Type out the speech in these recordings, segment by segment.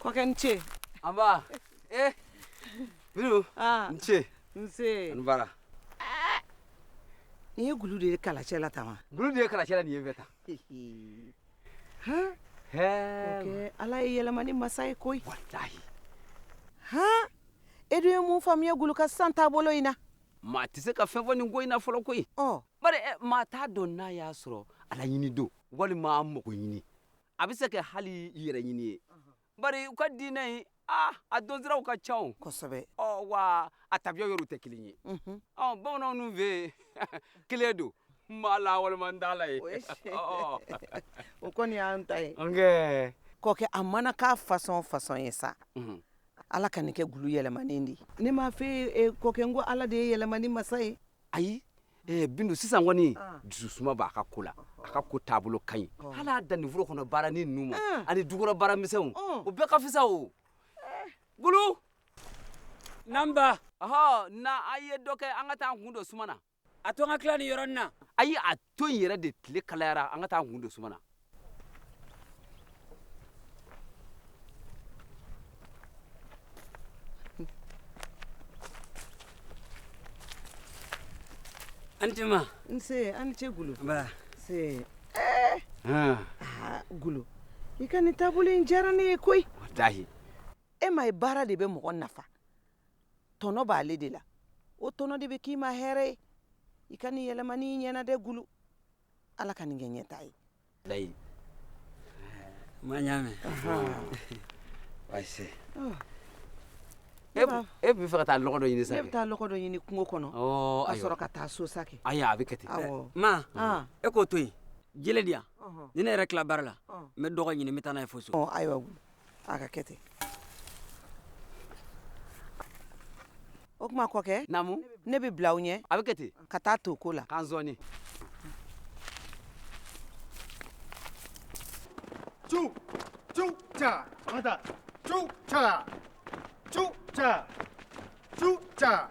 Kɔkɛ i ni ce. Nba. Eh. Bindu. Ah. I ni ce. Nse. A ni baara. Nin ye gulu de ye kalacɛ la tan wa? Gulu de ye kalacɛ la nin ye bɛɛ tan. Han. Hɛɛ. Kɛ Ala ye yɛlɛmani masa ye koyi. Walahi. Han. E dun ye mun faamuya gulu ka sisan taabolo in na? Maa tɛ se ka fɛn fɔ nin ko in na fɔlɔ koyi. Ɔ. bari eh, maa t'a dɔn n'a y'a sɔrɔ ala ɲini don walima an mago ɲini a bɛ se kɛ hali yɛrɛ ɲini ye bari u ka diinɛ in ah, a donsiraw ka ca o kosɛbɛ ɔ wa a tabiya yɔrɔw tɛ kelen ye mhm. ɔ bamananw dun fɛ yen kelen don n b'a la walima n t'a la ye o kɔni y'an ta ye kɔkɛ a mana k'a fasɔn fasɔn ye sa mhm. ala ka nin kɛ gulu yɛlɛmanen de ye ne m'a fɔ e ye, kɔkɛ n ko ala de ye yɛlɛmani masa ye ayi eh, bindu sisan kɔni ah. dususuma b'a ka ko la a ka ko taabolo ka ɲi ah. hali a danni foro kɔnɔ baara ni ninnu ma ah. ani dukɔnɔ baara misɛnw oh. o bɛɛ ka fisa o eh. gulu nba ɔhɔ na an ye dɔ kɛ an ka taa an kun don suma na a to an ka tila nin yɔrɔnin na ayi a to in yɛrɛ de tile kalayara an ka taa an kun don suma na an tɛ ma n se a ni ce gulu nba nse eh. ah. ah, gulu i ka nin taabolo in diyara ne ye koyi walahi e m'a ye baara de bɛ mɔgɔ nafa tɔnɔ b'ale de la o tɔnɔ de bɛ k'i ma hɛrɛ ye i ka nin yɛlɛmani in ɲɛna dɛ gulu ala ka nin kɛ ɲɛta ye layi ma y'a mɛn baasi e bɛ fɛ ka taa lɔgɔ dɔ ɲini sa ne bɛ taa lɔgɔ dɔ ɲini kungo kɔnɔ ka sɔrɔ ka taa so sa kɛ ayi a bɛ kɛ ten ma e k'o to yen jele di yan ni ne yɛrɛ tila baara la n bɛ dɔgɔ ɲini n bɛ taa n'a ye fo so ayiwa a ka kɛ ten o tuma kɔkɛ namu ne bɛ bila aw ɲɛ a bɛ kɛ ten ka taa to ko la k'an sɔɔni cu cu ca an ta cu ca cu ca cu ca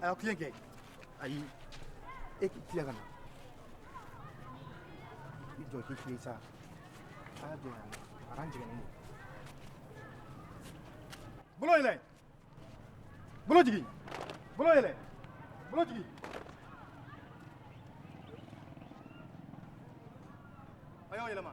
a y'aw tilen kɛ ayi e k'i tilen ka na i jɔ k'i tilen sa a y'a jɔ yan a k'an jigin n'o bolo yɛlɛ bolo jigin bolo yɛlɛ bolo jigin a y'aw yɛlɛma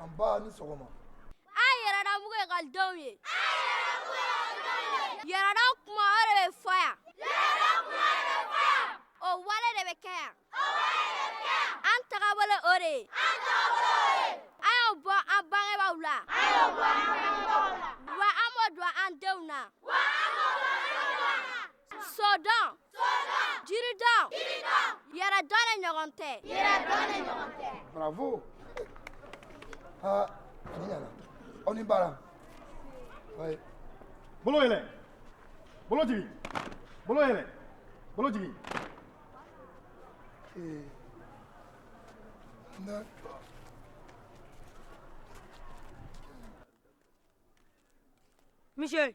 an ba ni sɔgɔma an yɛrɛdɔnbugu ekɔlidenw ye yɛrɛdɔn kuma o de bɛ fɔ yan o wale de bɛ kɛ yan an tagabolo o de ye an y'a bɔ an bangebaw la wa an b'o don an denw na sodɔn jiridɔn yɛrɛdɔn de ɲɔgɔn tɛ bravo aa ani ɲana aw ni baara wayi bolo yɛlɛ bolo jigin bolo yɛlɛ bolo jigin ee n Monsieur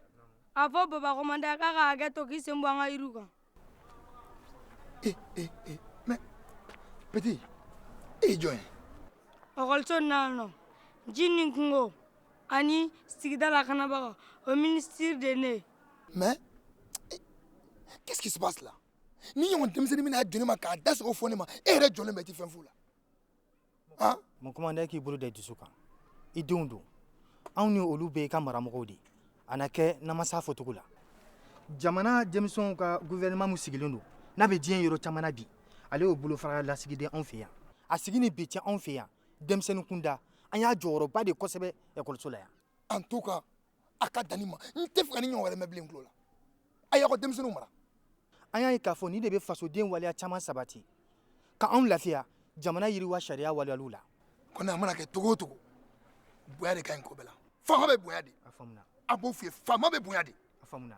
a fɔ baba commandant k'a ka hakɛ to k'i sen bɔ an ka jiri kan petit e jɔn ekɔliso nana ji ni kungo ani sigida lakanabaga o minisiri de ne mais qu'est-ce qui se passe là nin ɲɔgɔn denmisɛnnin bɛna jɔ ne ma k'a da se k'o fɔ ne ma e yɛrɛ jɔlen bɛ ten fɛn fu la aa mon commandant k'i bolo da i dusu kan i denw don anw ni olu bɛɛ i ka maramɔgɔw de a na kɛ namasa fɔcogo la jamana denmisɛnw ka gouvernement min sigilen don n'a bɛ diɲɛ yɔrɔ caman na bi ale y'o bolofara lasigiden anw fɛ yan a sigi ni bi cɛ anw fɛ yan denmisɛnnin kunda an y'a jɔyɔrɔba de kosɛbɛ ekɔliso la yan en tout cas a ka dan nin ma n t'a fɛ ka nin ɲɔgɔn wɛrɛ mɛn bilen n tulo la a y'aw ka denmisɛnninw mara an y'a ye k'a fɔ nin de bɛ fasoden waleya caman sabati ka anw lafiya jamana yiriwa sariya waleyaliw la kɔni a mana kɛ cogo o cogo bonya de ka ɲi ko bɛɛ la faama bɛ bonya de a faamuna a b'o f'i ye faama bɛ bonya de a faamuna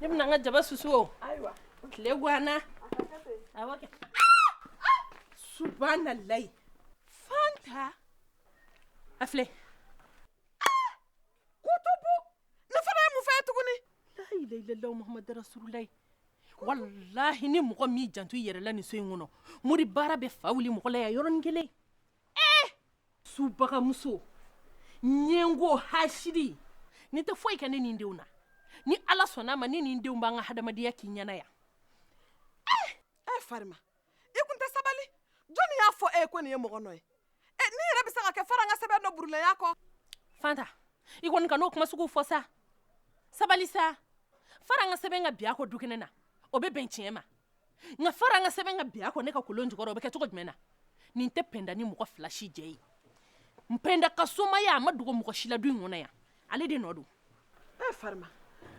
Ne bɛna n ka jaba susu o tile ganna subahanalayi fanta a filɛ kutubu nin fana ye mun fɛn tuguni layilayilala mohamadu rasulu layi walayi ni mɔgɔ m'i janto i yɛrɛ la nin so in kɔnɔ mori baara bɛ fa wili mɔgɔ la yan yɔrɔnin kelen ee subagamuso ɲɛngo hasidi nin tɛ foyi kɛ ne ni n denw na ni ala sɔnna a ma ne ni n denw b'an ka hadamadenya k'i ɲɛ na yan ee ee farima i kun tɛ sabali jɔnni y'a fɔ e ye ko nin ye mɔgɔ nɔ ye ee nin yɛrɛ bɛ se ka kɛ faran ka sɛbɛn dɔ burunnen y'a kɔ fanta i kɔni kana o kuma suguw fɔ sa sabali sa faran ka sɛbɛn ka bin a kɔ dukɛnɛ na o bɛ bɛn tiɲɛ ma nka faran ka sɛbɛn ka bi a kɔ ne ka kolon jukɔrɔ o bɛ kɛ cogo jumɛn na nin tɛ pɛnda ni mɔgɔ fila si jɛ ye pɛnda ka somaya a ma dogo mɔgɔ si la du in kɔnɔ yan ale de nɔ don e farima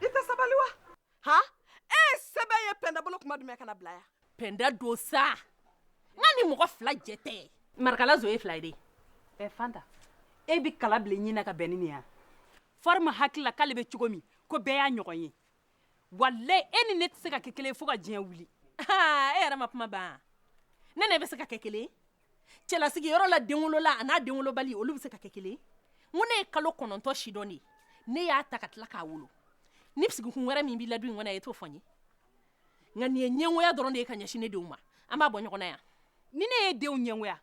i tɛ sabali wa han e ye sɛbɛn ye pɛnda bolo tuma jumɛn ka n'a bila yan pɛnda don sa nka ni mɔgɔ fila jɛ tɛ marikala zo ye fila ye dɛ ɛ fanta e bɛ kala bila i ɲin na ka bɛn ni nin ye wa farima hakili la k'ale bɛ cogo min ko bɛɛ y'a ɲɔgɔn ye wa e ni ne tɛ se ka kɛ kelen fo ka diɲɛ wuli e yɛrɛ ma kuma ban ne ne bɛ se ka kɛ kelen cɛlasigi yɔrɔ la denwolola ani denwolobali olu bɛ se ka kɛ kelen ko ne ye kalo kɔnɔntɔn sidɔn de ne y'a ta ka tila k'a wolo ni sigikun wɛrɛ min b'i la in kɔnɔ e t'o fɔ n ye nka nin ye ɲɛgoya dɔrɔn de ye ka ɲɛsin ne denw ma an b'a bɔ ɲɔgɔn na yan ni ne ye denw ɲɛgoya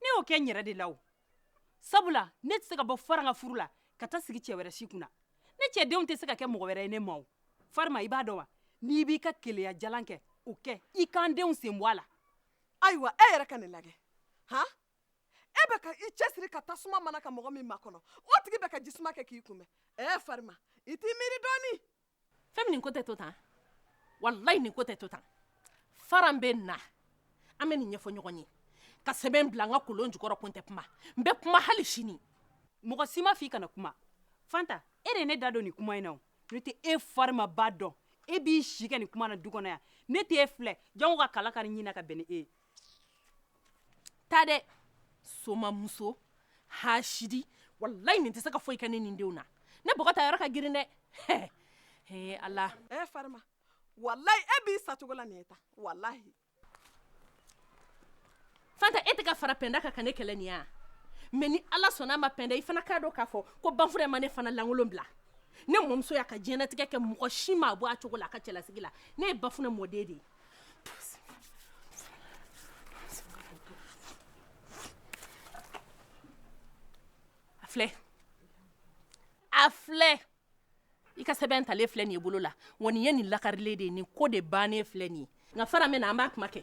ne y'o kɛ n yɛrɛ de la o sabula ne tɛ se ka bɔ faran ka furu la ka taa sigi cɛ wɛrɛ si kunna ne cɛ denw tɛ se ka kɛ mɔgɔ wɛrɛ ye ne ma o farima i b'a dɔn wa n'i b'i ka keleya jalan kɛ o kɛ i ka n denw sen bɔ a la ayiwa e yɛrɛ ka nin lajɛ han e bɛ ka i cɛsiri ka tasuma mana ka mɔgɔ min makɔnɔ o tigi bɛ ka jisuma kɛ k'i kunbɛn ɛɛ farima i t'i miiri dɔɔnin fɛn min nin ko tɛ to tan walayi nin ko tɛ to tan faran bɛ na an bɛ nin ɲɛfɔ ɲɔgɔn ye ka sɛbɛn bila n ka kolon jukɔrɔ ko n tɛ kuma n bɛ kuma hali sini mɔgɔ si m'a fɔ i kana kuma fanta e de ye ne da don nin kuma in na o ne tɛ e farimaba dɔn e b'i si kɛ nin kuma na du kɔnɔ yan ne t'e filɛ jango ka kala kari n ɲin na ka bɛn ni e ye taa dɛɛ somamuso haasidi walayi nin tɛ se ka foyi kɛ ne ni n denw na ne bɔgɔ ta yɔrɔ ka girin dɛɛ hɛ hee ala ɛɛ farima walayi e b'i sa cogo la nin ye tan walayi fanta e tɛ ka fara pɛnda kan ka ne kɛlɛ nin ye wa mɛ ni ala sɔnna a ma pɛnda i fana k'a dɔn ka fɔ ko ba fure ma ne fana lankolon bila ne mamuso y'a ka diɲɛnatigɛ kɛ mɔgɔ si m'a bɔ a cogo la a ka cɛlasigi la ne ye bafunɛ mɔden de ye filɛ a filɛ i ka sɛbɛn talen filɛ nin y'i bolo la wa nin ye nin lakarilen de ye nin ko de bannen filɛ nin ye nka faran mana na an b'a kuma kɛ